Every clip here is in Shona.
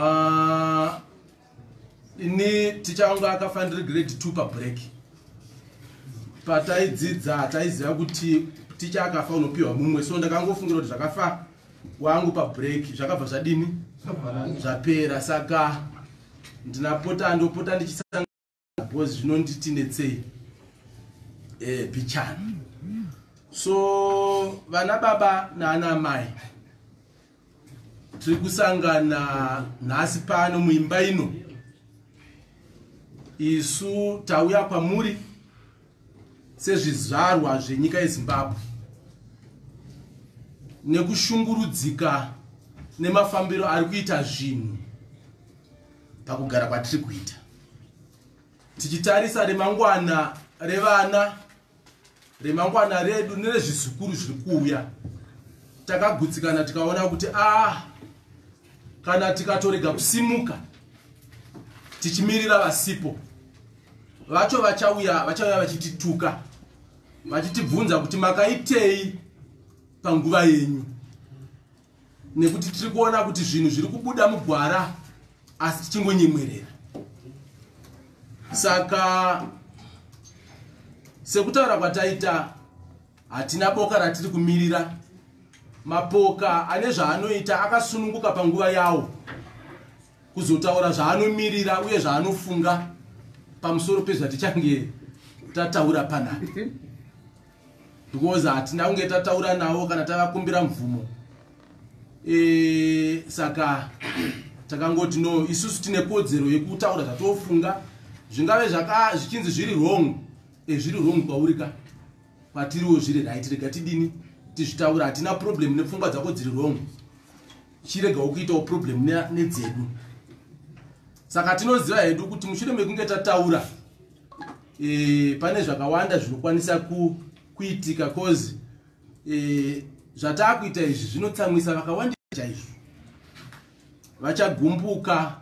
Ah, ini ticha wangu akafa ndiri grade 2 pabreak pataidzidza hataiziva kuti ticha akafa unopiwa mumwe so ndakangofungira kuti zvakafa wangu pabreak zvakabva zvadini zvapera saka ndinapota ndopota ndichisanga because zvinonditi netsei eh, bichani so vana baba naana mai tiri kusangana nhasi pano muimba ino isu tauya kwamuri sezvizvarwa zvenyika yezimbabwe nekushungurudzika nemafambiro ari kuita zvinhu pakugara kwatiri kuita tichitarisa remangwana revana remangwana redu nerezvizukuru zviri kuuya takagutsikana tikaona kuti ah kana tikatorega kusimuka tichimirira vasipo vacho vachauya vachauya vachitituka vachitibvunza kuti makaitei panguva yenyu nekuti tiri kuona kuti zvinhu zviri kubuda mugwara asi tichingonyemwerera saka sekutaura kwataita hatina boka ratiri kumirira mapoka ane zvaanoita akasununguka panguva yawo kuzotaura zvaanomirira uye zvaanofunga pamusoro pezvatichange tataura panhani because hatina kunge tataura navo kana tavakumbira mvumo e, saka takangoti no isusu tine kodzero yekutaura zvatofunga zvingave zvichinzi zviri wrong e, zviri wrong kwauri ka kwatiriwo zviri right rega tidini tizvitaura hatina problem nepfungwa dzako dziri wrong chiregawo kuitawo problem nedzedu saka tinoziva hedu kuti mushure mekunge tataura e, pane zvakawanda zvinokwanisa ku, kuitika cause e, zvataakuita izvi zvinotsamwisa vakawandisa chaizvo vachagumbuka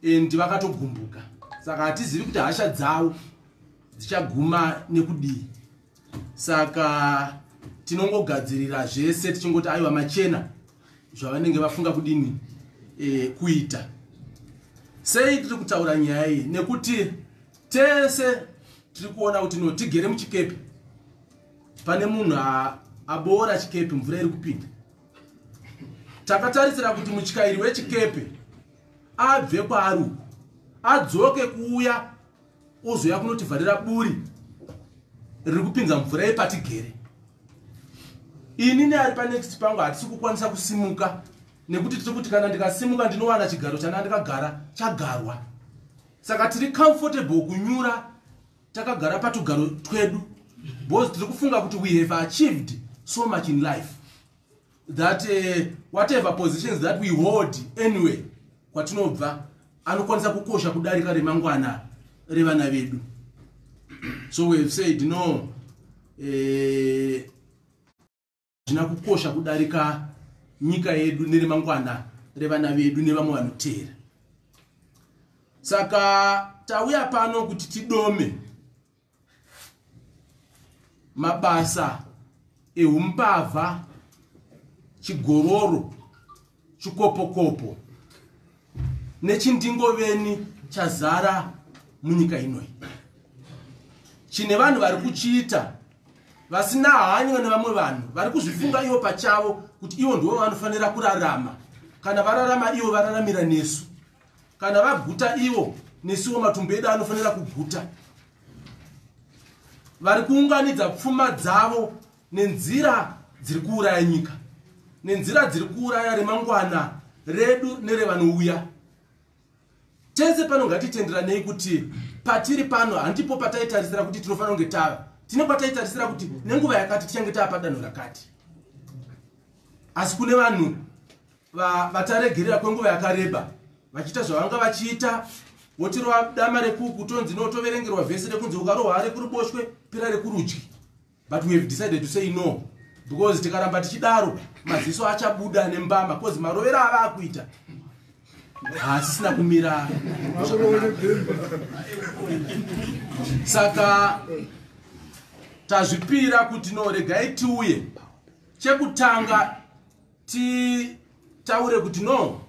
and vakatogumbuka saka hatizivi kuti hasha dzavo dzichaguma nekudii saka tinongogadzirira zvese tichingoti aiwa machena zvavanenge vafunga kudini e, kuita sei tiri kutaura nyaya iyi nekuti tese tiri kuona kuti no tigere muchikepe pane munhu aboora chikepe mvura iri kupinda takatarisira kuti mutyairi wechikepe abve kwaari uku adzoke kuuya Ozouya kunotivharira buri riri kupinza mvura yepatigere. Ini neari panext pangu hatisi kukwanisa kusimuka nekuti tiri kuti kana ndikasimuka ndinowana chigaro chana ndikagara chagarwa. Saka tiri comfortable kunyura takagara patugaro twedu because tiri kufunga kuti we have achieved so much in life. that uh, whatever positions that we hold anyway kwatinobva anokwanisa kukosha kudarika remangwana revana vedu so we have said no eh, zvina uh, kukosha kudarika nyika yedu neremangwana revana vedu nevamwe vanoteera saka tauya pano kuti tidome mabasa ehumbavha chigororo chikopokopo nechindingoveni chazara munyika inoi chine vanhu vari kuchiita vasina hanywa nevamwe vanhu vari kuzvifunga ivo pachavo kuti ivo ndivo vanofanira kurarama kana vararama ivo vararamira nesu kana vaguta ivo nesuwo matumbu edu anofanira kuguta vari kuunganidza pfuma dzavo nenzira dziri kuuraya nyika nenzira dziri kuuraya remangwana redu nerevanouya tese pano ngatitenderanei kuti patiri pano handipo pataitarisira kuti tinofanira kunge tava tine kwataitarisira kuti nenguva yakati tichange tava padanho rakati asi kune vanhu vataregerera kwenguva yakareba vachiita zvavanga vachiita wotirova dama rekuku tonzi no toverengerwa vhesi rekunzi ukarohwa ari kuruboshwe pira rekurudyi but we have decided to say no because tikaramba tichidaro maziso achabuda nembama bcause marovero ava akuita haasisina kumira saka tazvipira kuti no regai tiuye chekutanga titaure kuti no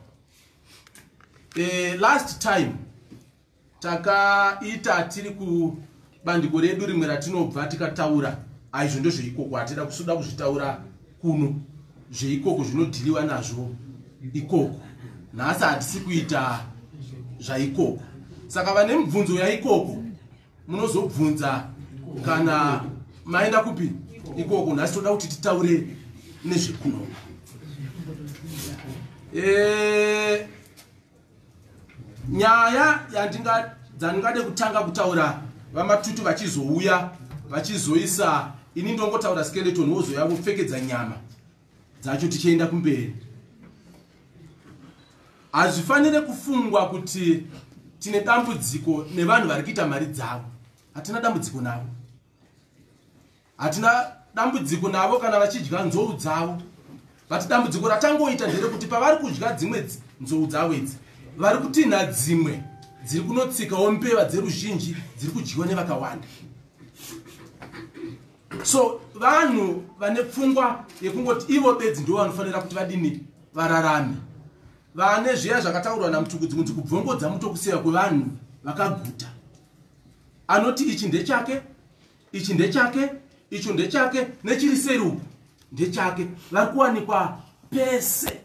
e, last time takaita tiri kubandiko redu rimwe ratinobva tikataura aizvo ndozveikoko hatida kusuda kuzvitaura kuno zveikoko zvinodhiliwa nazvo ikoko nhasi hatisi kuita zvaikoko saka vane mibvunzo yaikoko munozobvunza kana maenda kupi ikoko nhasi toda kuti titaure nezvekuno eh, nyaya dzandingade kutanga kutaura vamatutu vachizouya vachizoisa ini ndongotaura skeleton wozoya vopfekedza nyama dzacho tichienda kumberi hazvifanire kufungwa kuti tine dambudziko nevanhu vari kuita mari dzavo hatina dambudziko navo hatina dambudziko navo kana vachidya nzou dzavo but dambudziko ratangoita ndere kuti pavari kudya dzimwe nzou dzavo idzi vari kutinha dzimwe dziri kunotsikawo mbeva dzeruzhinji dziri kudyiwa nevakawanda so vanhu vane pfungwa yekungoti ivo bedzi ndivo vanofanira kuti vadini vararame vane zviya zvakataurwa namutukudzi kunzi kubvongodza mutokusiya kwevanhu vakaguta anoti ichi ndechake ichi ndechake icho ndechake nechiri seri uku ndechake vari kuwanikwa pese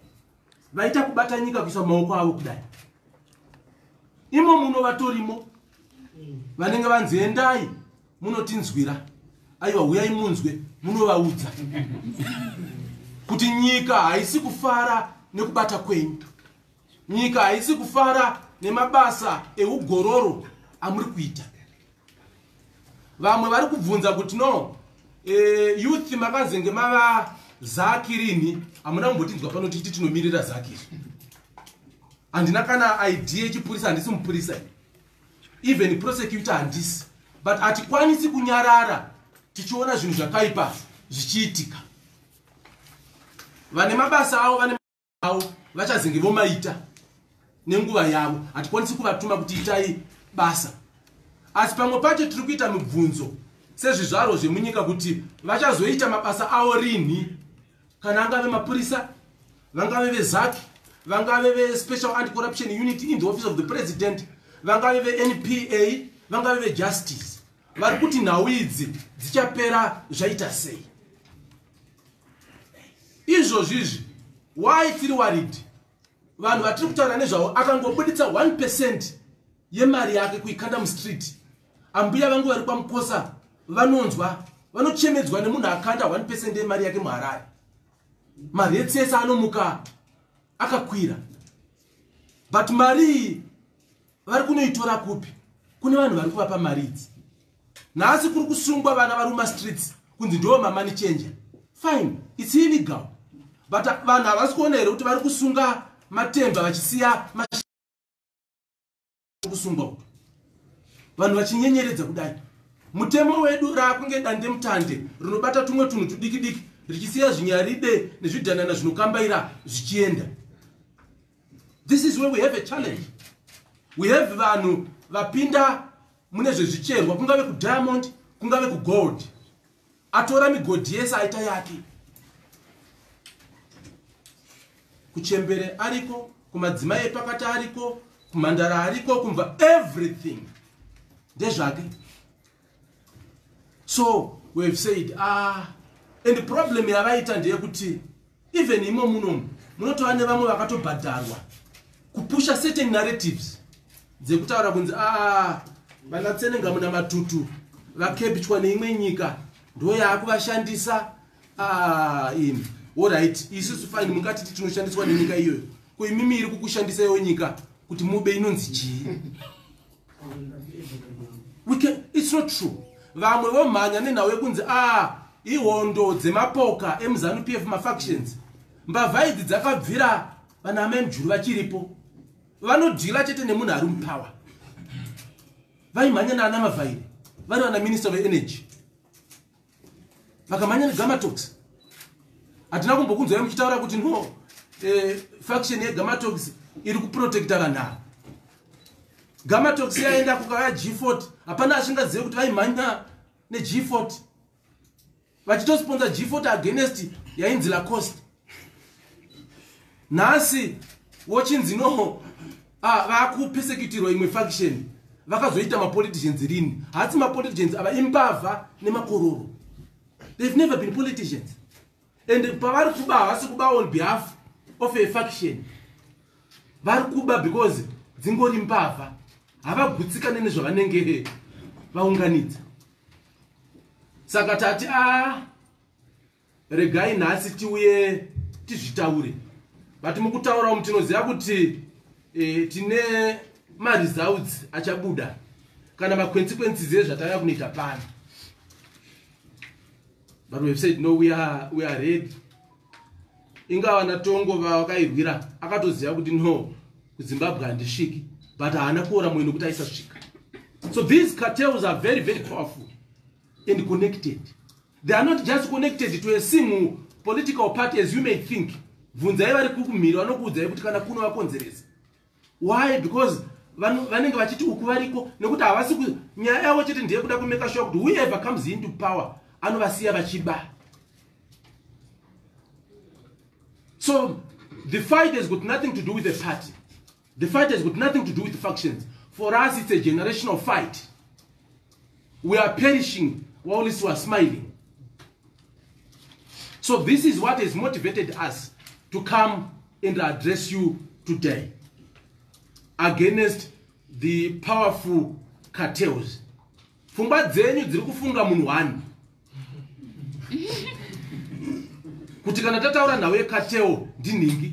vaita kubata nyika kuisa maoko avo kudai imo muno vatorimo vanenge vanzi endai munotinzwira aiwa huyai munzwe munovaudza kuti nyika haisi kufara nekubata kwenyu nyika haisi kufara nemabasa eugororo amuri kuita vamwe vari kubvunza kuti no eh, youth makazenge mava zaki rini hamuna kumbotinzwa pano tichiti tinomirira zaki izvi handina kana idea yechipurisa handisi mupurisa even prosecutor handisi but hatikwanisi kunyarara tichiona zvinhu zvakaipa zvichiitika vane mabasa avo vane avo vachazenge vomaita nenguva yavo hatikwanisi kuvatuma kuti itai basa asi pamwe pacho tiri kuita mibvunzo sezvizvarwo zvemunyika kuti vachazoita mabasa avo rinhi kana angave mapurisa vangave vezac vangave vespecial anti corruption unit in the office of the president vangave venpa vangave vejustice vari kuti nhau idzi dzichapera zvaita sei izvozvi izvi why tiri worried vanhu vatiri kutaura nezvavo akangobuditsa 1 percent yemari yake kuikanda mustreet ambuya vangu vari kwamukosa vanonzwa vanochemedzwa nemunhu akanda 1 percent yemari yake muharare mari etsese anomuka akakwira but mari iyi vari kunoitora kupi kune vanhu vari kuvapa mari idzi nhasi kuri kusungwa vana vari mumastreets kunzi ndiwo mamani changer fine its illegal but vanhu havasi kuona here kuti vari kusunga matemba vachisiya kusungwa uku vanhu vachinyenyeredza kudai mutemo wedu raakunge dande mutande rinobata tumwe tunhu tudikidiki richisiya zvinyaride nezvidhanana zvinokambaira zvichienda this is where we have a challenge we have vanhu vapinda mune zvezvicherwa kungave kudiamond kungave kugold atora migodhi yese aita yake kuchembere ariko kumadzimai epakati ariko kumhandara ariko kumva everything ndezvake so wehave said ah and problem yavaita ndeyekuti even imo munomu munotova nevamwe vakatobhadharwa kupusha certain narratives dzekutaura kunzi a ah, vanatsenenga muna matutu vakebitwa neimwe nyika ndo yaakuvashandisa ah, in orit isusu fine mungatiti tinoshandiswa nenyika iyoyo ko imimi iri kukushandisa yo nyika kuti mube inonzi chii We can, it's not true vamwe vomhanya nenhau yekunzi a ah, ihondo dzemapoka emuzanu p f mafactions mbavha idzi dzakabvira vana amai mujuru vachiripo vanodhila chete nemunhu ari mupower vaimhanya naana mavhairi vari vana minister veenergy makamhanya negamatox hatina kumbokunzwai muchitaura kuti no eh, faction yegamatox iri kuprotecta vanhu ava gamatox yaenda kukaya g40 hapana achingazive kuti vaimhanya neg40 vachitosponsa g40 against yainzi lacost nhasi wochinzi no ah, vakupesekitirwa imwe faction vakazoita mapoliticians rini hasi mapoliticians ava imbavha nemakororo they've never been politicians and pavari kuba havasi kuba on behalf of a faction vari kuba because dzingori mbavha havagutsikane nezvavanenge vaunganidza saka tati a ah, Regai nhasi tiuye tizvitaure but mukutaura umu tinoziva kuti e, tine maresults achabuda kana maconsequences ezvatanga kunoita pano but weve said no we are, we are ready ingava natongo vawakairwira akatoziva kuti no kuzimbabwe handisviki but haana kuora mweno kuti aisasvika so these cartels are very very powerful and connected they are not just connected to a single political party as you may think bvunzai vari kukumhiri vanokuudzai kuti kana kuno vakonzeresa why because vanenge vachiti uku variko nekuti havasi nyaya yavo chete ndeye kuda kumeka shuwa kuti whoever comes into power anovasiya vachiba so the fight has got nothing to do with the party The fight has got nothing to do with factions. For us, it's a generational fight. We are perishing while we are smiling. So this is what has motivated us to come and address you today against the powerful cartels. Fumba dzenyu dziri kufunga munhu wani. Kuti kana tataura nhau yecartel ndinhingi.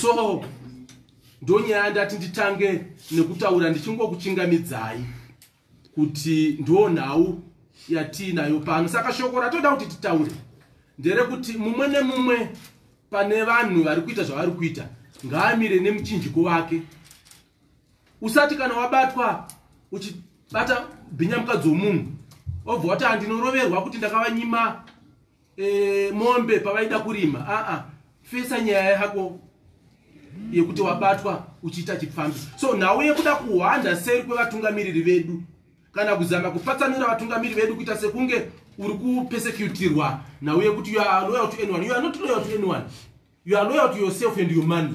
so ndonyaya ndati nditange nekutaura ndichingokuchingamidzai kuti ndo nhau yatiinayo pano saka shoko ratoda kuti titaure nderekuti mumwe nemumwe pane vanhu vari kuita zvavari kuita ngaamire nemuchinjiko wake usati kana wabatwa uchibata bhinya mukadzi womunhu obva wati handinoroverwa kuti ndakavanyima e, mombe pavaida kurima aa ah, ah. fesa nyaya yako yekuti wabatwa uchiita chipfambi so nhau yekuda kuhwanda seri kwevatungamiriri vedu kana kuzama kupatsanura vatungamiriri vedu kuita sekunge uri kupesecutirwa nhau yekuti you are loyal to anyone you are not loyal to anyone you are loyal to yourself and your money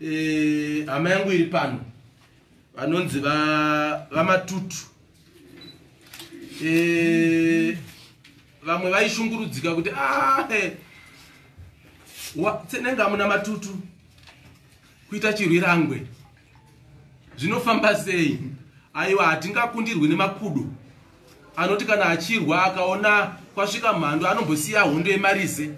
Eh, hama yangu iri pano vanonzi vamatutu eh, vamwe vaishungurudzika kuti ah, eh, tsenenge amuna matutu kuita chirwirangwe zvinofamba sei aiwa hatingakundirwi nemakudo Anoti kana achirwa akaona kwasvika mhandu anombosiya hondo yemarize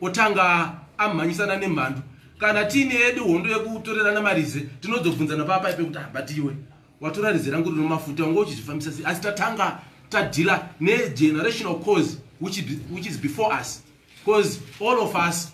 otanga amhanyisana nemhandu. Kana tiine yedu hondo yekutorerana marize tinozobvunzana papa ipe kuti habatiwe watora rize rangu rino mafuta unge uchizvifambisa sei asi tatanga tadhila negenerational cause which is before us cause all of us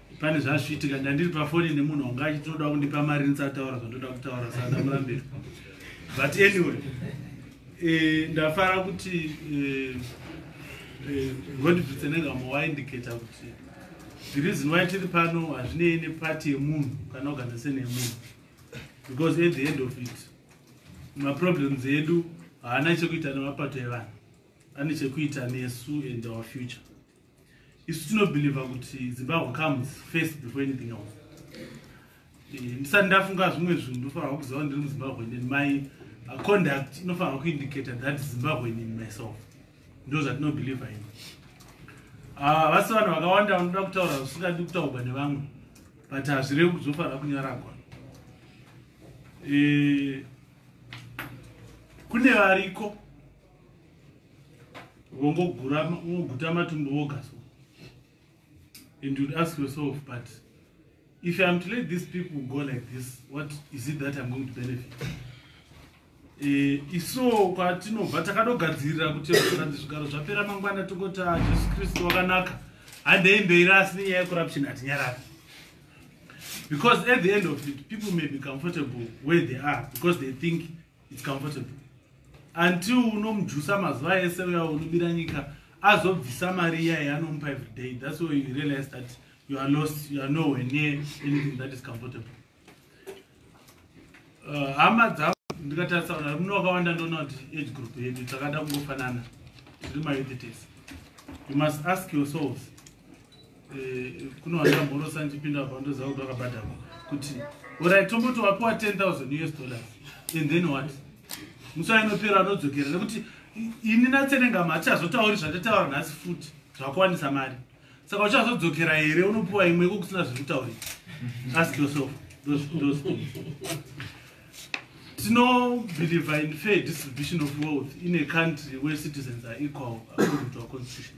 pane zvazviitika ndandiri pafoni nemunhu wanga achitoda kundipa mari ndisataura zvandoda kutaura saka ndamurambira but anyway e, ndafara kuti eh, eh, rondibvitsenengamo e, waindicata kuti the reason why tiri pano hazvinei nepati yemunhu kana organization yemunhu because at the end of it maproblems edu haana chekuita nemapato evanhu ane chekuita nesu and our future isu tinobhilivha kuti zimbabwe comes first before anything else eh, ndisati ndafunga zvimwe zvinhu ndofanirwa kuziva kuti ndiri muzimbabwe nen my uh, conduct inofanirwa kuindicator that zimbabwe nen myself ndo zvatinobhilivha ini ah, vasi vanhu vakawanda vanoda kutaura zvisingadi kutaurwa nevamwe but hazvirevi kuti zvofanira kunyaragwa eh, kune variko vongoguta matumbu voga so and you'd ask yourself but if i'm to let these people go like this what is it that i'm going to benefit eh, iso kwatinobva takadogadzirira kuti zvikanzi zvigaro zvapera mangwana tokota jesu kristu wakanaka handei mberi asi nenyaya yecorruption hatinyarari because at the end of it people may be comfortable where they are because they think its comfortable until unomujusa mazuva ese uya unobira nyika azobvisa mari iya yaanomupa every day thats why you realize that you are lost you are nowhere near anything that is comfortable uh, hama uh, dzavo ndikatarisa vanhu vari muno vakawanda ndoona kuti age group yedu takada kungofanana tiri mayouth tese you must ask yourselves Eh, kune wandamborosa ndichipinda apa ndoziva kuti wakabhadharwa kuti orit tomboti wapiwa 10000 us dollars and then what musi ainopera anodzokera nekuti ini natsenengama hatichazotauri zvatataura nhasi futi zvakuwanisa mari saka uchazodzokera here unopiwa imwe iko kusina zviri kutaurira ask yourself tinobhilivha in fair distribution of wealth in a country where citizens are equal according to our constitution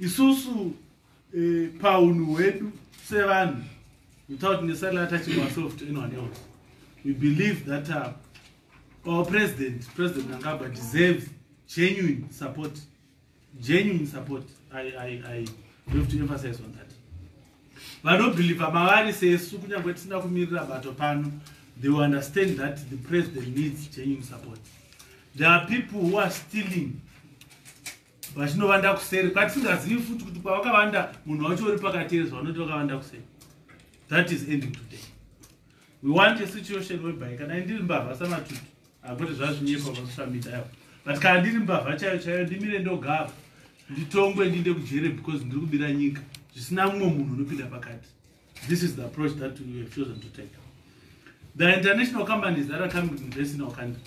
isusu eh, paunhu hwedu sevanhu without necessarily attaching ourselves to anyone else we believe that uh, our president president nangaba deserves genuine support genuine support i, I, I have to emphasize on that vanobhilivha mavari sesu kunyange tisina kumirira bato pano they will understand that the president needs genuine support there are people who are stealing vachinovanda kuseri kwatisingazivi futi kuti kwavakavanda munhu wacho uri pakati ezvo vanoti vakavanda kuseri that is ending today we want a situation whereby kana ndiri mbavha samatutu akuti zvazvinyepa vasamidayo but kana ndiri mbavha chaiyo chaiyo ndimire ndogava nditongwe ndiinde kujere because ndiri kubira nyika zvisina mumwe munhu unopinda pakati this is the approach that we have chosen to take the international companies that are coming to invest in our country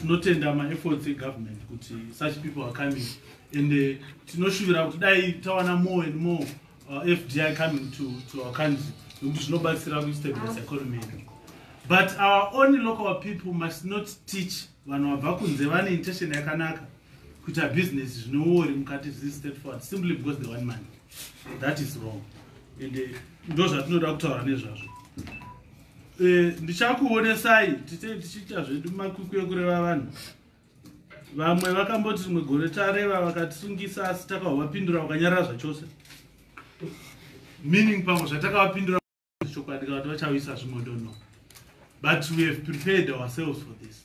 tinotenda maefforts egovernment kuti such people are coming and uh, tinoshuvira kuti dai tawana more and more uh, fdi coming to, to our country nokuti zvinobatsira kustabilize ah. economy yedu but our only local people must not teach vanhu vabva kunze vane intention yakanaka kuita business zvinowori mukati zviri state forward simply because they want money that is wrong and uh, ndo zvatinoda kutaura nezvazvo Eh, ndichakuonesai titei tichiita zvedu makwikwi ekureva vanhu vamwe vakamboti rimwe gore tareva vakatisungisa asi takavapindura vakanyarara zvachose meaning pamwe zvatakavapindura chokwadi kavati vachauyisa zvimwe dono but we have prepared ourselves for this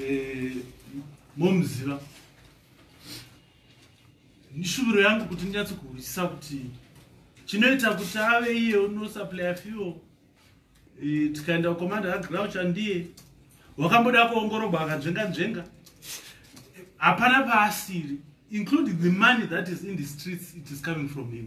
eh, momuziva nishuviro yangu kuti ndinyatso kuhwisisa kuti chinoita kuti ave iye unosaplaya fuel eh, tikaenda kukomanda kagrau chandiye wakamboda kuongorogwa akanzvenga nzvenga hapana paasiri including the money that is in the streets it is coming from him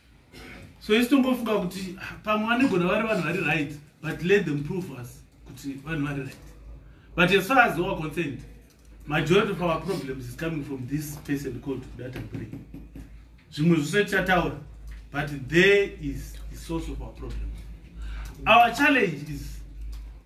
so isu tongofunga kuti ah, pamwe vanigona vari vanhu vari right but let them prove us kuti vanhu vari right but as far as our concerned majority of our problems is coming from this person called data bray zvimwe zvose tichataura but there is the source of our problem our challenge is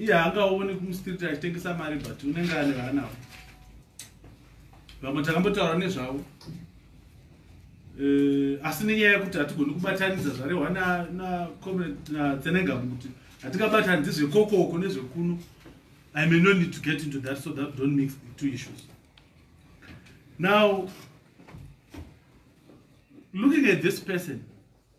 iye haangaone kumustreet achitengesa mari but unenge ane vaanavo vamwe takambotaura nezvavo eh, asi nenyaya yekuti hatigoni kubatanidza zvarehwa natsenengamu kuti hatingabatanidzi zvekokoko nezvekuno i may no need to get into that so that don't mix the two issues now looking at this person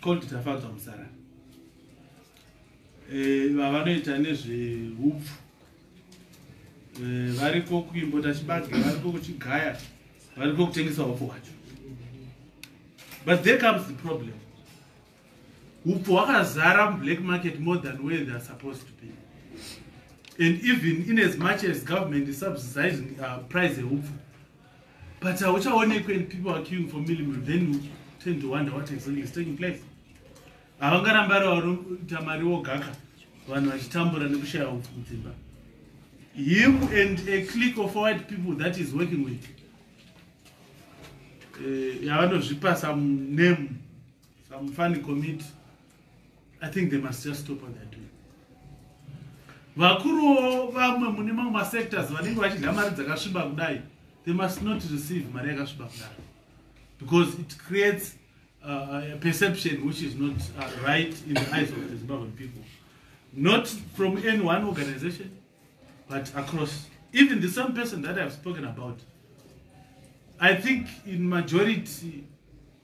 called tafadzwa musara eh, vavanoita nezveupfu eh, variko kuimbo tachibage variko kuchigaya variko kutengesa upfu hwacho but there comes the problem upfu hwakazara mublack market more than where theyare supposed to be and even in as much as government is subsidizing uh, price eupfu but hauchaonekwe and people are queuing for millimeter then you tend to wonder what exactly is taking place havangarambi ari varoita mari wogaka vanhu vachitambura nekushaya hupfu kudzimba him and a click of white people that is working with eh, yavanozvipa some name some funny committee I think they must just stop what they're doing. Vakuruwo vamwe mune mamwe masectors vanenge vachidya mari dzakasviba kudai they must not receive mari yakasviba kudai because it creates uh, uh, a perception which is not uh, right in the eyes of the Zimbabwean people. Not from any one organization, but across. Even the same person that I've spoken about, I think in majority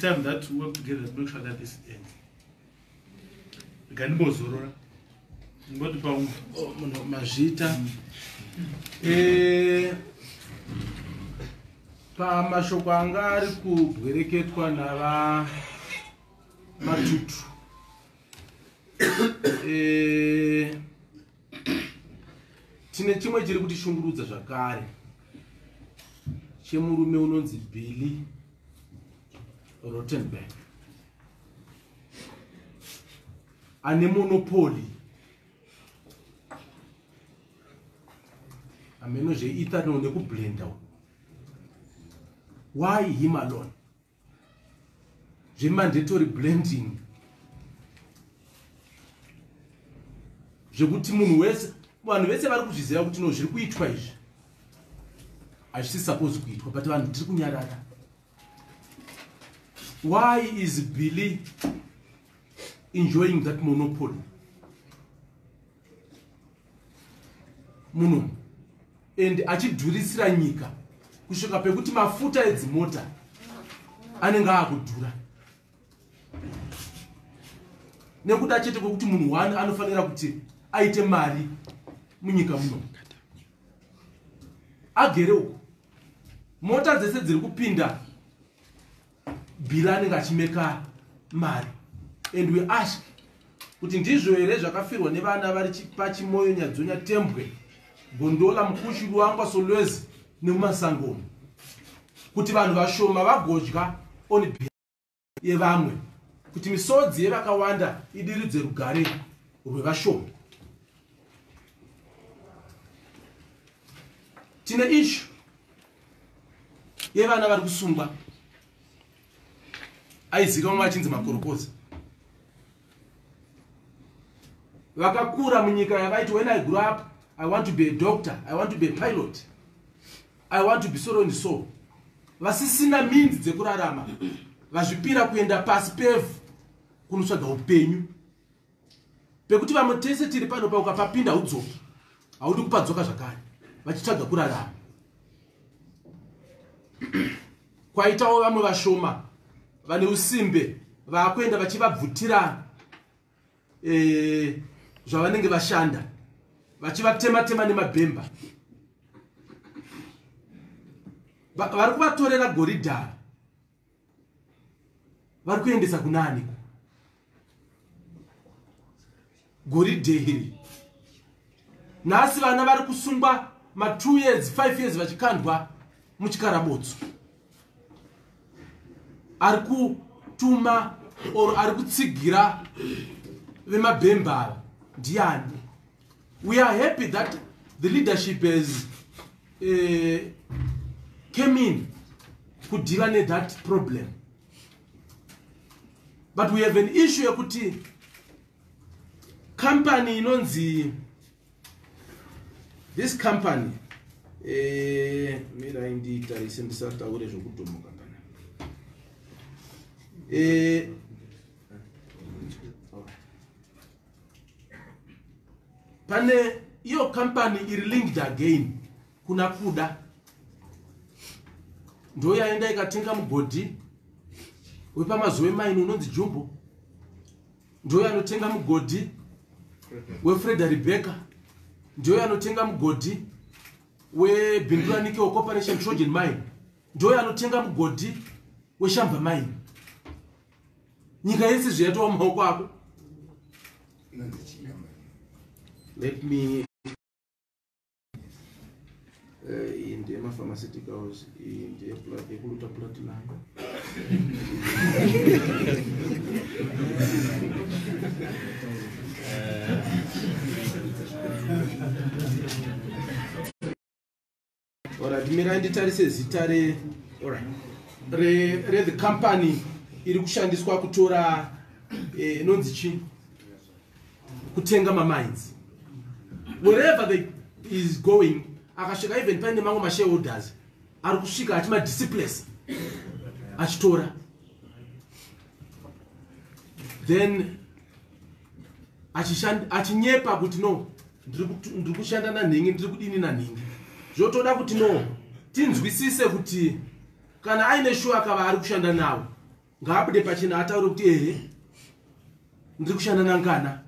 time that we work together to make sure that this ends gandimbozorora ngoti pa oh, munhu mazvita eh, pamashoko anga ari kubwereketwa nava matutu eh, tine chimwe chiri kutishungurudza zvakare chemurume unonzi billy Rottenberg ane monopoli ameno zveethanol nekublenda why him alone zvemandatory blending zvekuti munhu wese vanhu vese vari kuzviziva kuti no zviri kuitwa izvi hazvisi suppose kuitwa but vanhu tiri kunyarara why is billy enjoying that monopoly muno and achidhurisira nyika kusvika pekuti mafuta edzimota anenge aakudhura nekuda chete kwekuti munhu one anofanira kuti aite mari munyika muno agere uko mota dzese dziri kupinda bhira anenge achimeka mari and we ask kuti ndizvo here zvakafirwa nevana vari pachimoyo nyadzonya tembwe gondola mukushi luangwa solwezi nemumasangomo kuti vanhu vashoma vagodya on yevamwe kuti misodzi yevakawanda idiridze rugare rwevashoma tine ishu yevana vari kusungwa aizikamwa vachinzi makorokoza vakakura munyika yavaiti when i grew up i want to be a doctor i want to be a pilot I want to be soroni so vasisina minzi dzekurarama vazvipira kuenda pasi pevhu kunotsvaga upenyu pekuti vamwe tese tiri pano pa ukapapinda udzoki haudi kupadzoka zvakare vachitsvaga kurarama kwaitawo vamwe vashoma vane usimbe vaakuenda vachivabvutira eh, zvavanenge vashanda vachivatema tema nemabhemba vari kuvatorera goridhara vari kuendesa kunani goridhe iri nhasi vana vari kusungwa ma2 years 5 years vachikandwa muchikarabotso ari kutuma or ari kutsigira vemabhembara ndiani we are happy that the leadership has uh, came in kudhila nethat problem but we have an issue yekuti company inonzi this company eh, mirai ndiitarise ndisataure zvekudhomoka pana eh, pane iyo company iri linked again kuna kuda ndoyaenda ikatenga mugodhi wepamazuva emaini unonzi jumbo ndiyo yanotenga mugodhi wefreda rebecca ndiyo yanotenga mugodhi webinduranikewo corporation trojan mine ndiyo yanotenga mugodhi weshamba mine nyika yese zviyatowa maoko ako let me Eh, iyi ndiye mapharmaceuticals iyi ndiye yekuluta platinum orat mirai nditarise zita re rethe company iri kushandiswa kutora eh, inonzi chii kutenga mamines wherever they is going akasvika even paine mamwe mashareholders ari kusvika achimadisciplese achitora then achinyepa kuti no ndiri kushanda nanhingi ndiri kudini nanhingi zvotoda kuti no tinzwisise kuti kana aine shuwa akava ari kushanda navo ngaabude pachena ataure kuti ehe ndiri kushanda nangana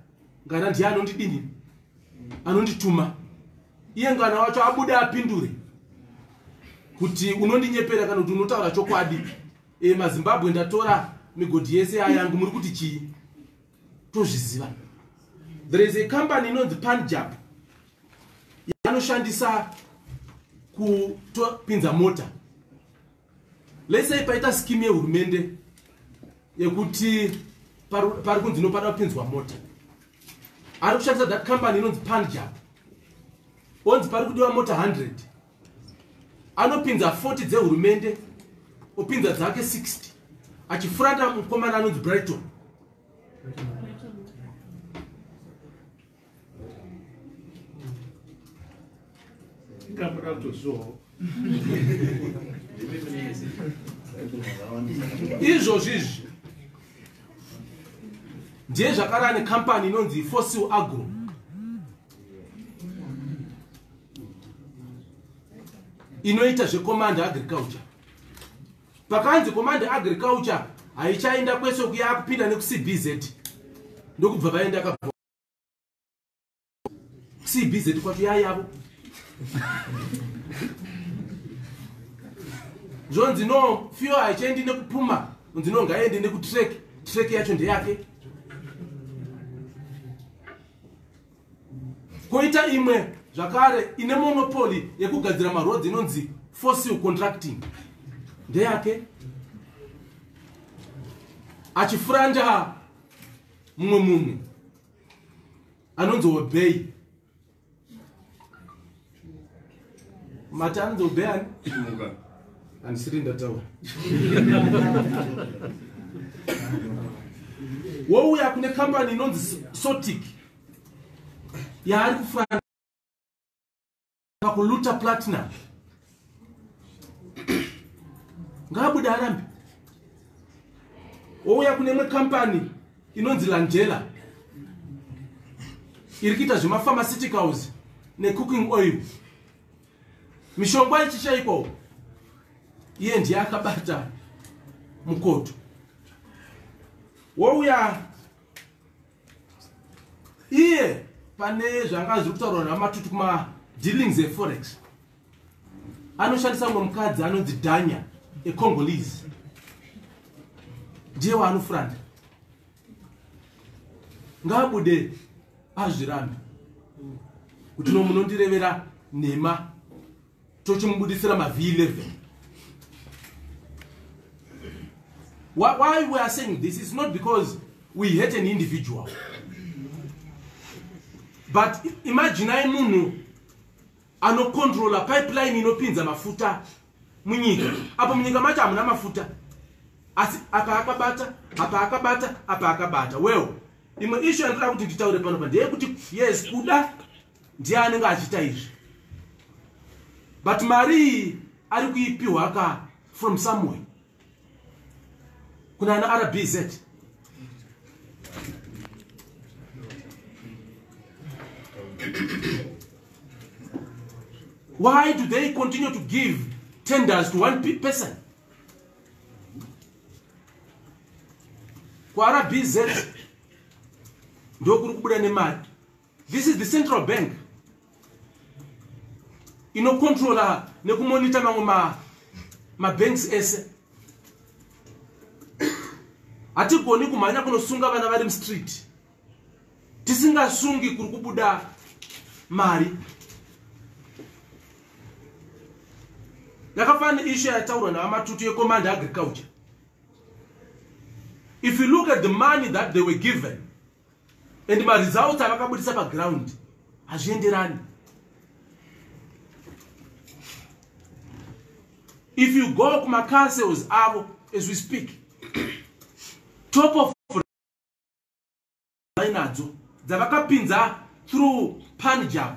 ngana ndiye anondidini anondituma iye ngana wacho abude apindure kuti unondinyepera kana kuti unotaura chokwadi e, mazimbabwe ndatora migodhi yese yayangu muri kuti chii tozviziva there is a company inonzi panjab yanoshandisa kupinza mota Let's say paita scheme yehurumende yekuti pari kunzi inopada kupinzwa mota ari kushandisa that company inonzi panjab onzi pari kudiwa mota 100 anopinza 40 dzehurumende opinza dzake 60 achifurata mukomana anonzi brighton ndikambura kutozviwawo izvozvi izvi ndiye zvakarava nekampani inonzi fossil agro inoita zvecommand agriculture pakanzi command agriculture haichaenda kwese kuya kupinda nekucbz ndokubva vaenda ka cbz kwatu yayavo zvonzi no fio haichaendi nekupuma unzi no ngaaende nekutrek trek yacho ndeyake koita imwe zvakare ine monopoli yekugadzira marodzi inonzi fossil contracting ndeyake achifuranda mumwe munhu anonzi obey mati anonzi obey ani andisiri ndataura wouya kune kambani inonzi sotic yaari kufana pakuluta platinum ngaabude arambe ouya kune imwe kampani inonzi landela iri kuita zvemapharmaceuticals necooking oil mishonga ichishaikwawo iye ndiye akabata mukoto wouya iye pane zvanga zviri kutaurwa namatuti kuma dealings eforex anoshandisa mumwe mukadzi anonzi danya econgolese ndiye waanofuranda ngaabude azvirambe kuti no munondirevera nhema tochimubudisira mavhi 11 why we are saying this is not because we hate an individual but imagine ai munhu anocontrola pipeline inopinza mafuta munyika apo munyika macho hamuna mafuta asi apa akabata apa akabata apa akabata well imwe ishu yandinoda kuti nditaure pano pa ndeyekuti yes kuda ndiye anenge achiita izvi but mari iyi ari kuipiwa ka from somewhere kuna ana rbz why do they continue to give tenders to one person kwaRBZ ndokuri kubuda nemari this is the central bank inokontrola nekumonita mamwe ma, mabanks ese hatigoni kumhanya kunosunga vana vari mustreet tisingasungi kuri kubuda mari yakafanana neishu yataurwa navamatutu yecommand agriculture if you look at the money that they were given and maresults avakabudisa paground hazvienderani if you go kumacouncils avo as we speak top of vainadzo dzavakapinza through punjab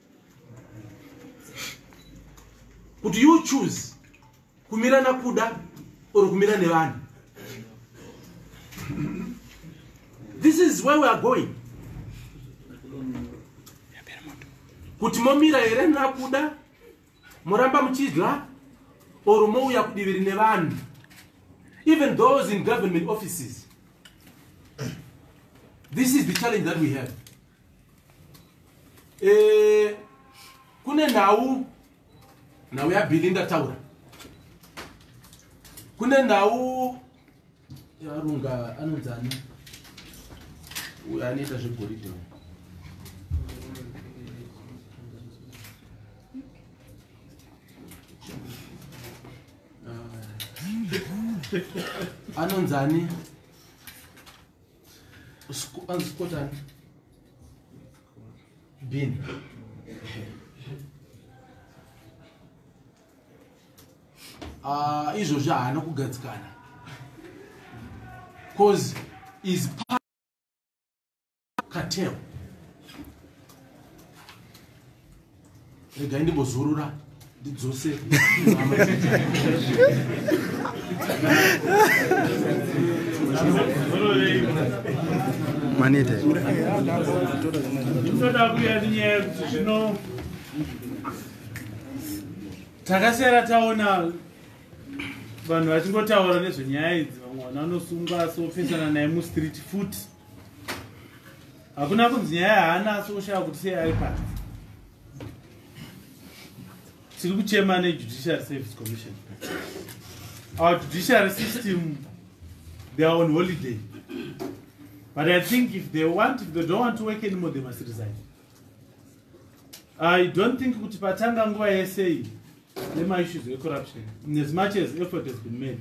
kuti you choose kumira nakuda or kumira nevanhu this is where we are going kuti momira here nakuda moramba muchidya or mouya kudiviri nevanhu even those in government offices this is the challenge that we have eh, kune nhau nhau yabili ndataura kune nhau yarunga anonzani uyo anoita zvegoridhe anonzani anzikotani bin ah, izvozvi haana kugadzikana cause is cartel regai ndimbozorora ndidzose manete toda kuya tinyaya yekuti zvino takasara taona vanhu vachingotaura nezvenyaya idzi vamwe vana vanosungwa sopesana naye mustreet futi hakuna kunzi nyaya haana asi oshaya kuti sei ari pasi tiri kuchema nejudiciary service commission our judiciary system they are on holiday but i think if they want if they don't want to work anymore they must resign i don't think kuti patanga nguva yesei nemaissues ecorruption as much as effort has been made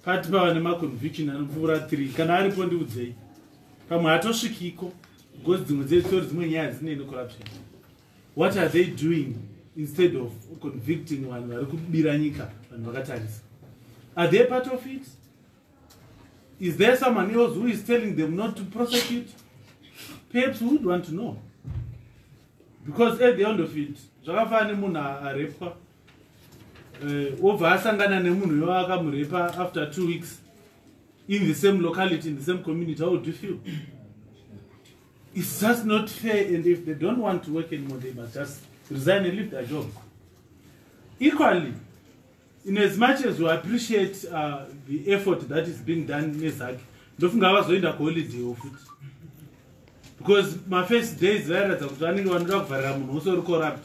Pati pava nemaconviction anopfuura 3 kana aripo ndiudzei pamwe hatosvikiko because dzimwe dzesori dzimwe nyaya dzinei necorruption what are they doing instead of convicting vanhu vari kubira nyika vanhu vakatarisa are they part of it is there someone else who is telling them not to prosecute perhaps we would want to know because at the end of it zvakafana nemunhu arepwa eh, obva asangana nemunhu uyo akamurepa after two weeks in the same locality in the same community how would you feel it's just not fair and if they don't want to work anymore they must just resign and leave their job equally in as much as we appreciate uh, the effort that is being done nezake ndofunga vazoenda kuholiday ofuti because mafirst days vairatidza kuti vanenge vanoda kuvharira munhu wose uri corrupt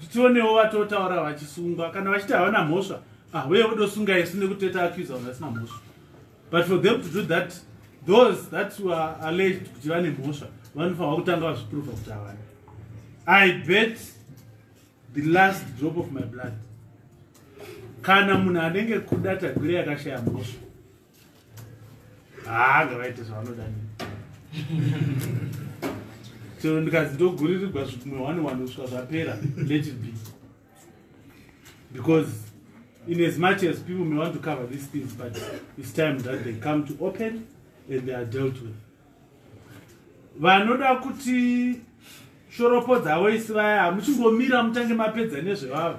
titionewo vatotaura vachisungwa kana vachiti havana mhosva ahuye ah, vodosunga isu nekuteta accusa vanhu vasina mhosva but for them to do that those that were alleged kuti vane mhosva vanofanirwa kutanga vazviprova kuti havana i bet the last drop of my blood kana munhu anenge kuda tagwire yakashaya mhosva haa ngavaite zvavanoda ni chero ndikanzi ndoguririrwa zvikumwe one one kusvika zvapera let it be because in as much as people may want to cover these things but it's time that they come to open and they are dealt with vanoda kuti shoropo dzavo isi vaya hamuchingomira mutange mapedza nezvevavo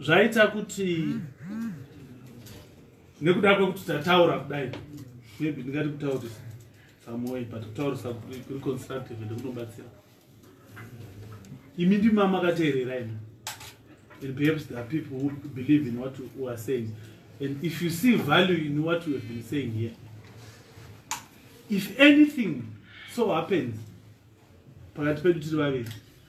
zvaita kuti nekuda kwekuti tataura kudai maybe ndingati kutaurisa samoi but kutaurisa kuri constructive ende kunobatsira imi ndima makateerera imi and perhaps there are people who believe in what u are saying and if you see value in what you have been saying here if anything so happens pakati pedu tiri vaviri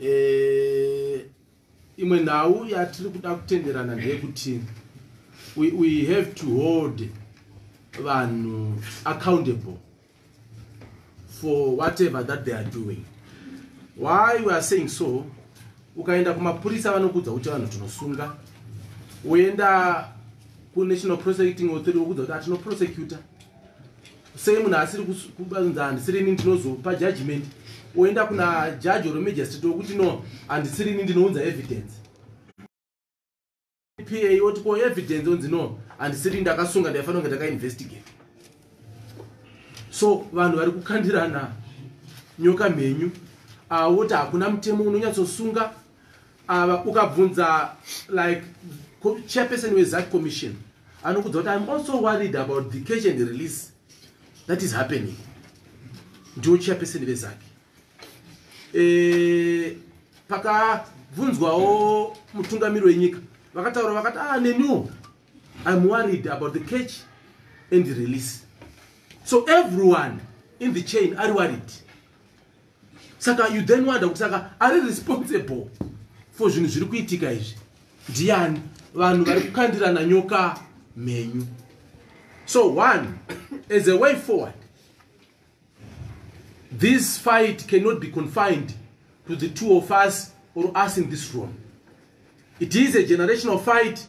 eh, imwe nhau yatiri kuda kutenderana ndeyekuti we, we have to hold vanhu accountable for whatever that they are doing why we are saying so ukaenda kumapurisa vanokuudza kuti vanhu tinosunga uenda kunational prosecuting authority vokuudza kuti atinoprosecuta sei munhu asiri kunzi handisiri ini ndinozopa judgment oenda kuna judge or magistrate wekuti no handisiri ini ndinounza evidence pa oti ko evidence onzi no handisiri ndakasunga ndaifanira kunge ndakainvestigate so vanhu vari kukandirana nyoka mhenyu awoti ah, hakuna mutemo unonyatsosunga Ava ukabvunza like chairperson weZAC commission anokudza kuti I'm also worried about the catch and release that is happening. Ndiwo chairperson veZAC. Eh pakabvunzwawo mutungamiri wenyika vakataura vakati ah neniwo I'm worried about the catch and the release. So everyone in the chain are worried. saka you then wonder kuti saka ari responsible for zvinhu zviri kuitika izvi ndiani vanhu vari kukandirana nyoka mhenyu so one as a way forward this fight cannot be confined to the two of us or us in this room it is a generational fight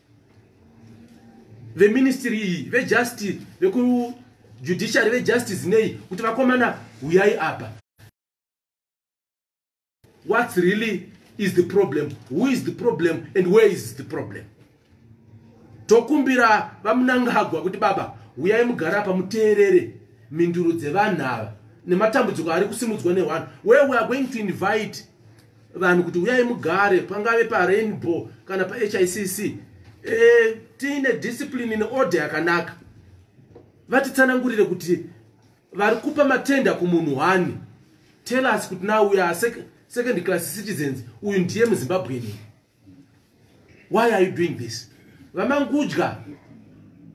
veministry iyi vejustice vekujudiciary vejustice nei kuti vakomana huyai apa what's really is the problem who is the problem and where is the problem tokumbira vamunangagwa kuti baba huyai mugara apa muteerere mhinduro dzevanhu ava nematambudziko ari kusimudzwa newanhu where we are going to invite vanhu kuti uyai mugare pangave parainbow kana pahicc e, eh, tiine discipline neorder yakanaka vatitsanangurire kuti vari kupa matenda kumunhu wani tell us kuti now we are sec second class citizens uyu ndiye muzimbabwean why are you doing this vamangudya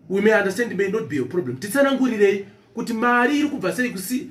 we may understand may not be your problem titsanangurirei kuti mari iri kubva sei kusi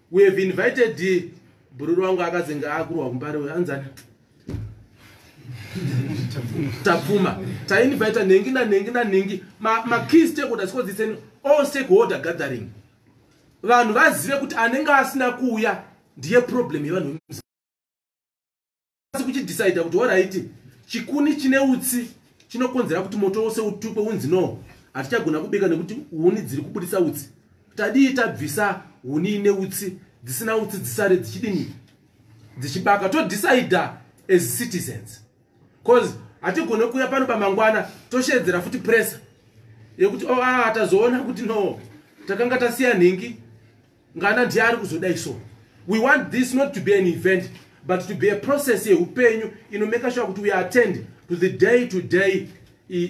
we have invited bhururu wangu akazenge akurwa kumbare uyo anzani tapfuma tainvita nhengi nanhengi nanhengi makey stakeholder sikodziseni all stakeholder gathering vanhu vazive kuti anenge asina kuuya ndiye problem yevanhu asi kuchidhisaidha kuti horaiti chikuni chine utsi chinokonzera kuti moto wose utukwe unzi no hatichagona kubika nekuti huni dziri kubudisa utsi tadii tabvisa huni ine utsi dzisina utsi dzisare dzichidini dzichibaka todhisaidha as citizens bcause hatigone kuuya pano pamangwana tosheedzera futi pressure yekuti oh, ah, tazoona kuti no takanga tasiya nhingi ngana ndiye ari kuzodai so we want this not to be an event but to be a process yeupenyu inomeka shuwa kuti we attend to the day to day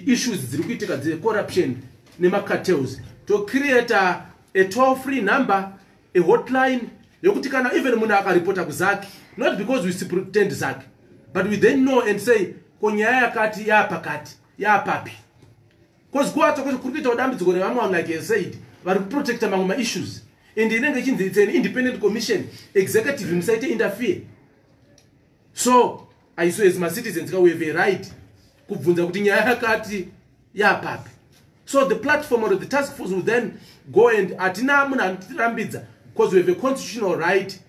issues dziri kuitika dzecorruption nemacartels tocreata a toll free number a hotline yekuti kana even munhu akaripota kuzaki not because we pretend zaki but we then know and say ko nyaya yakati yaapakati yaapapi Cause kwacho kwacho kuri kuitawo dambudziko revamwe vanhu like he said vari kuprotecta mamwe maissues and inenge ichinzi it's an independent commission executive musaite interfere so aiso as macitizens ka we have a right kubvunza kuti nyaya yakati yapapi so the platform or the task force will then go and hatina munhu anotirambidza because we have a constitutional right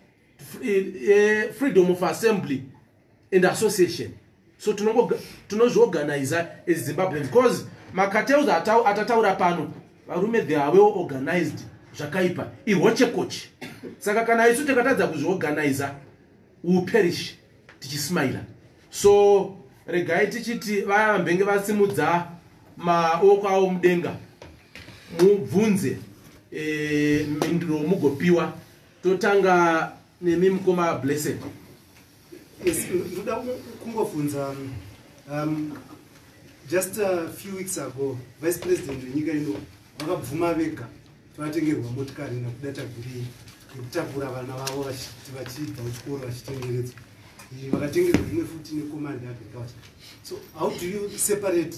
eh, eh, freedom of assembly and association so tinozviorganiza as zimbabweans because macartels atataura pano varume the are well organized zvakaipa ihochekoche saka kana isu tikatadza kuzviorganiza uperish tichismaila so regai tichiti vaya vambenge vasimudza maoko avo mudenga mubvunze eh, mhinduro mugopiwa totanga nemi mukoma blessed Yes, ndoda kungobvunza um, just a few weeks ago vice president wenyika ino vakabvuma vega vatengerwa motikari nakuda tagurei yekutakura vana vavo vachiti vachibva kuchikoro vachitengeredzwa vakatengerwa imwe futi necommand agriculture so how do you separate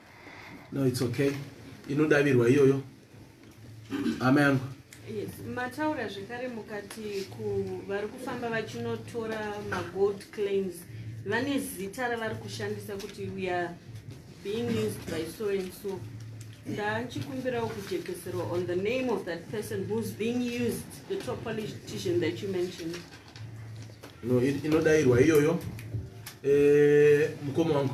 no it's okay inodavirwa iyoyo hama yangu yes mataura zvekare mukati vari kufamba vachinotora magold claims vane zita ravari kushandisa kuti we are being used by so and so ndachikumbirawo kujekeserwa on the name of that person who's being used the top politician that you mentioned no inodairwa iyoyo eh, mukoma wangu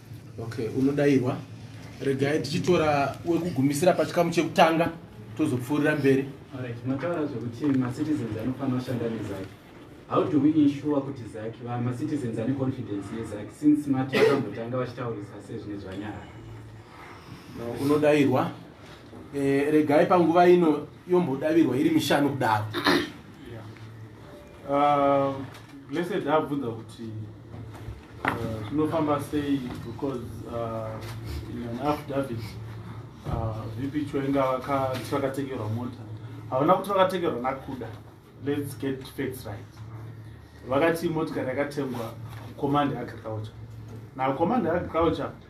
Okay, unodairwa. Regai tichitora wekugumisira pachikamu chekutanga tozopfuurira mberi. Alright, mataura zvekuti macitizens anofanira kushanda nezaki. How do we ensure kuti zaki macitizens ane confidence yezaki since mati vakambotanga vachitaurisa sezvine zvanyara? Unodairwa. Eh, regai panguva ino yombodavirwa iri mishanu kudaro. Uh, blessed abvunza kuti uh, zvinofamba sei because uh, in an affidavit uh, vp choenga vakati vakatengerwa mota havana kuti vakatengerwa nakuda let's get facts right vakati motikari yakatengwa command agriculture now command agriculture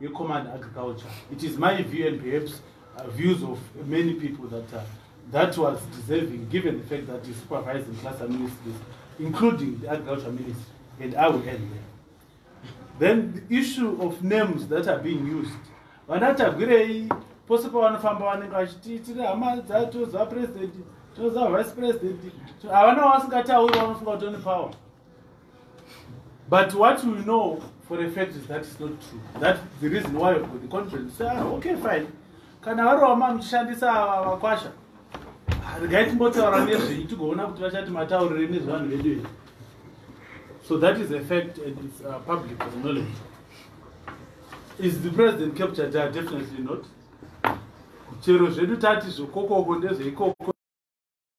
yecommand agriculture it is my view and perhaps uh, views of many people that uh, that was deserving given the fact that the supervising cluster ministries including the agriculture ministry and i will end there then the issue of names that are being used vanatagwirei pose pavanofamba vanenge vachiti tiri hama dzatoziva president toziva vice president havana vasingatauri vanofunga kuti one power But what we know for a fact is that it's not true. That the reason why you've got the confidence. Say, ah, okay, fine. Kana vari wama muchishandisa vakwasha. Regai timbotaura nezvenyu tigoona kuti vachati mataurire nezvevanhu vedu here. So that is a fact and it's uh, public knowledge. Is the president captured there? Definitely not. Chero zvedu tati zvokokoko ndezveikoko.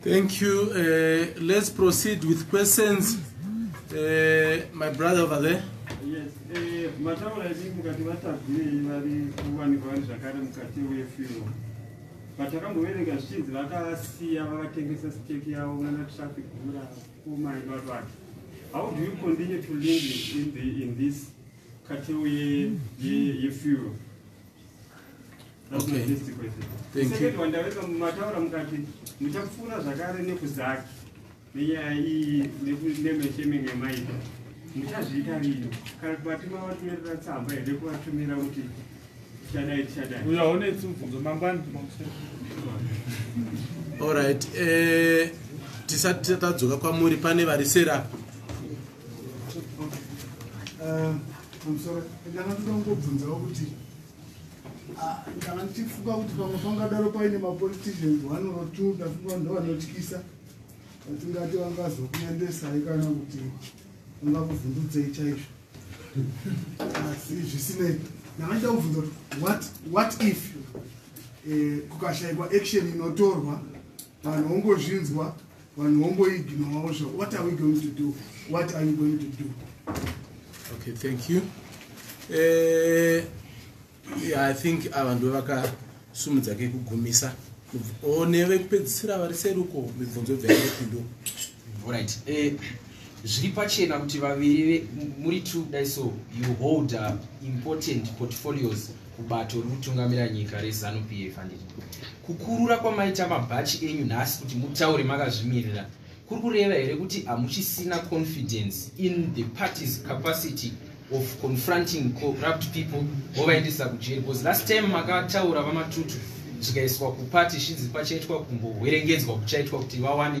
Thank you. Uh, let's proceed with questions. Uh, my brother over there. Yes. Eh, mataura edu mukati vatadzirei vari kuwanikwa vari zvakare mukati wefiro vatakamboverenga zvichinzi vakasiya vakatengesa steki yavo nana traffic gura kumai not what how do you continue to link in, the, in this category yefuel ye, ye Okay. Thank you. Second one, ndaweka mumataura mukati muchapfuura zvakare nekuzaki nenyaya iyi nemeshemenge maita muchazviita rini kana kubati mavatumirira tsamba here kuvatumira kuti tichadai tichadai uya une tsumvunzo mangwani allright eh, tisati tatadzoka kwamuri pane vari serapo pamusoro ndanga ndoda kungobvunzawo kuti ah, ndanga ndichifunga kuti pamwe pangadaro paine mapoliticians one or two ndafunga vanhu ndovanotyisa vatingati vangazokuendesai kana kuti vangakuvhundudzei chaizvo asi zvisinei ndanga ndida kubvunza kuti what if eh, kukashaikwa action inotorwa vanhu vongozvinzwa vanhu vongoignowawo zvo what are we going to do what are you going to do okay thank you eh, yeah, i think ava ndo vakasumudza kekugumisa one vekupedzisira vari seruko mibvunzo bvaepindo right eh, zviri pachena kuti vaviri muri two dai so you hold uh, important portfolios kubato rikutungamira nyika rezanu pf handiti kukurura kwamaita mabhachi enyu nhasi kuti mutaure makazvimirira kuri kureva here kuti hamuchisina confidence in the party's capacity of confronting corrupt people vovaendesa kujeri bcause last time makataura vamatutu zvikaiswa kupati shinzi pachaitwa kumbohwerengedzwa kuchaitwa kuti vawane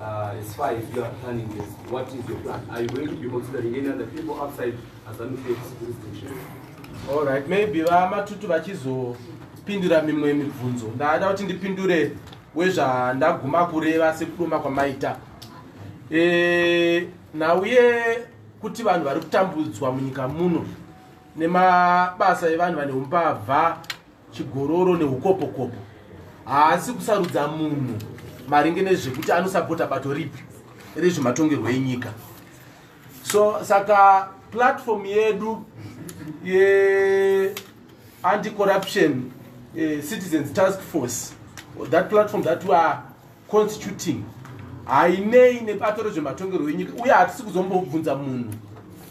Uh, as far as you are planning this, what is your plan? Are you going to be considering any other people outside as an jurisdiction? All right, maybe vamatutu vachizopindura mimwe mibvunzo. Ndada kuti ndipindure wezvandaguma kureva sekudoma kwamaita. Eh, nauye kuti vanhu vari kutambudzwa munyika muno nemabasa evanhu vane umbavha chigororo neukopokopo haasi kusarudza munhu maringe nezvekuti anosapota bato ripi rezvematongerwo enyika so saka platform yedu yeanti corruption eh, citizens task force that platform that weare constituting hainei nebato rezvematongerwo enyika uye hatisi kuzombobvunza munhu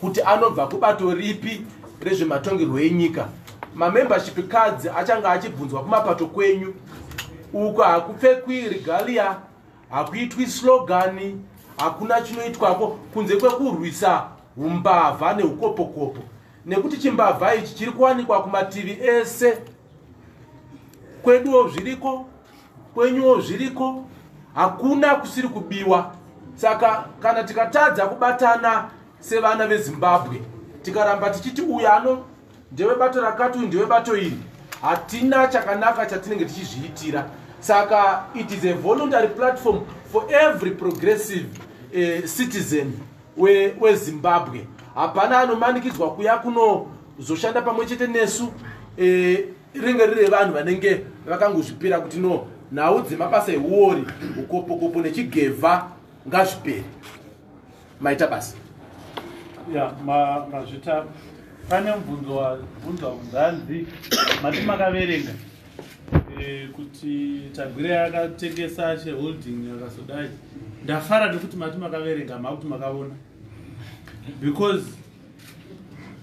kuti anobva kubato ripi rezvematongerwo enyika mamembership cards achange achibvunzwa kumapato kwenyu uko hakupfekwi regalia hakuitwi slogani hakuna chinoitwako kunze kwekurwisa umbavha neukopokopo nekuti chimbavha ichi chiri kuwanikwa kumativi ese kweduwo zviriko kwenyuwo zviriko hakuna kusiri kubiwa saka kana tikatadza kubatana sevana vezimbabwe tikaramba tichiti uyu ano ndewebato rakati uyu ndewebato iri hatina chakanaka chatinenge tichizviitira saka it is a voluntary platform for every progressive uh, citizen wezimbabwe we hapana anomanikidzwa kuya kunozoshanda pamwe chete nesu uh, rinenge riri revanhu vanenge vakangozvipira kuti no nhau dzemabasa ehuori ukopokopo nechigevha ngazvipere maita basa ya mazvita pane mubvunzo wabvunzwa kunzanzi mati makaverenga eh, kuti tagwire yakatengesa cheholding yakazodai ndafara nekuti mati makaverenga makuti makaona because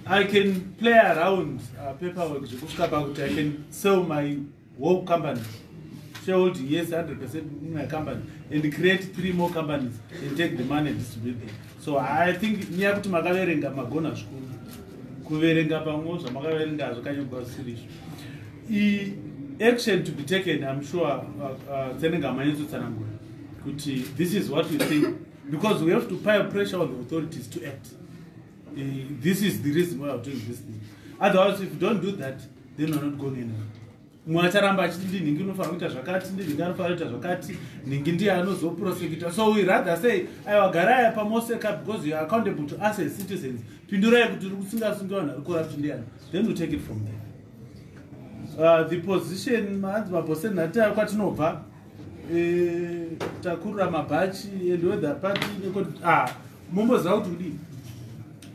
I can play around uh, paperwork zvekusvika pakuti I can sell my whole company shareholding yes 100 percent in my company and create three more companies and take the money and distribute them so I think nyaya kuti makaverenga magona zvikuru kuverenga pamwe zvamakaverenga zvakanyogwa zvisiri izvo action to be taken im sure uh, uh, tsenenge amanyatsotsana ngura kuti this is what we think because we have to pile pressure on the authorities to act eh, this is the reason why iw doing this thing otherwise if you don't do that then you're not going anywhere mwe acharamba achiti ndi nhingi unofanira kuita zvakati ndi nhingi anofanira kuita zvakati nhingi ndiye anozoprosekita so we rather say aiwa garaya pamoseka because youare accountable to us as citizens pindurai kuti ri kusingasungi vanhu ari corrupt ndiyani then we take it from there uh, the position maanzi mabhosen natiayo kwatinobva eh, takurura mabhachi and wether party nekut ah momboziva kuti kudii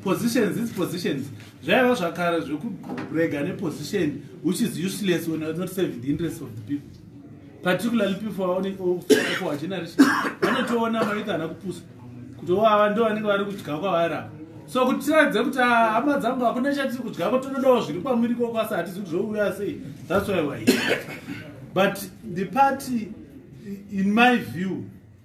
positions its positions zvaiva zvakara zvekurega neposition which is useless when not serving the interest of the people particularly people vaonekwa generation vanotoona maita ana kupusa kuti wava ndo vanenge vari kudya kwavari apa so kuti tiradze kuti ah, hama dzangu hakuna chatiri kudya ko tonodawo zviri kwamuri koko asi hatizi kuti zvouya sei that's why wa but the party in my view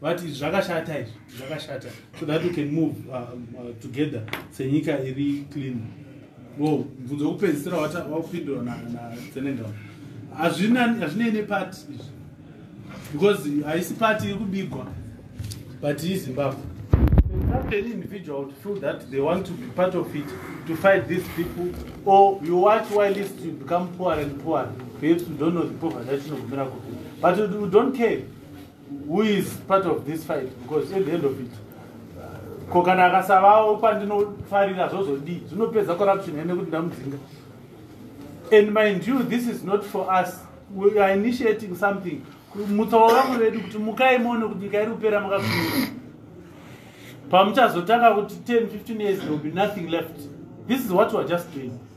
vati zvakashata izvi zvakashata so that we can move uh, uh, together senyika iri clean wo mvunzo wekupedzisira wakupindura nasenegal hazvinei nepati izvi because haisi pati iri kubigwa but izimbabwe any individual to feel that they want to be part of it to fight these people or you watch why list to become poor and poor perhaps you don't know the poverty that you know but you don't care who is part of this fight because at the end of it uh, ko kana akasavawo kwandinofarira zvozodii zvinopedza corruption hene kuti ndamudzinga and mind you this is not for us we are initiating something mutsawo vamwe vedu kuti mukai muone kuti nyika iri kupera makakuira pamuchazotanga kuti 10 15 years there will be nothing left this is what weare just doing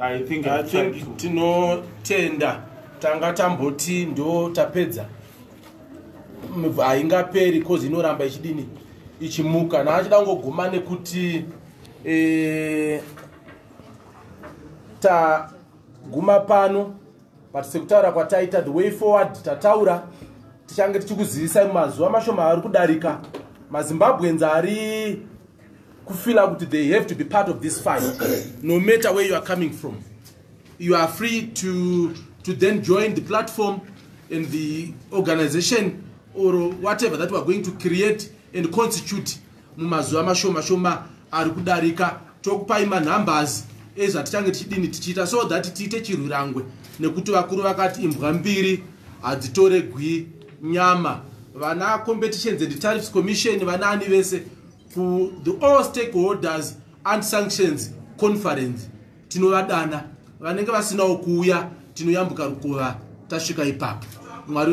i think, I think tinotenda tanga tamboti ndo tapedza haingaperi cause inoramba ichidini ichimuka naachida kungoguma nekuti e, taguma pano but sekutaura kwataita the way forward tataura tichange tichikuzivisai mumazuva mashoma ari kudarika mazimbabweans ari kufila kuti they have to be part of this fight no matter where you are coming from you are free to, to then join the platform and the organization or whatever that weare going to create and constitute mumazuva mashoma shoma ari kudarika tokupai manumbers ezvatichange tichidini tichiita so that tiite chirwirangwe nekuti vakuru vakati imbwa mbiri hadzitoregwi nyama vana competitions and tariffs commission vanaani vese kuthe all stakeholders and sanctions conference tinovadana vanenge vasinawo kuuya tinoyambuka rukova tasvika ipapo mwari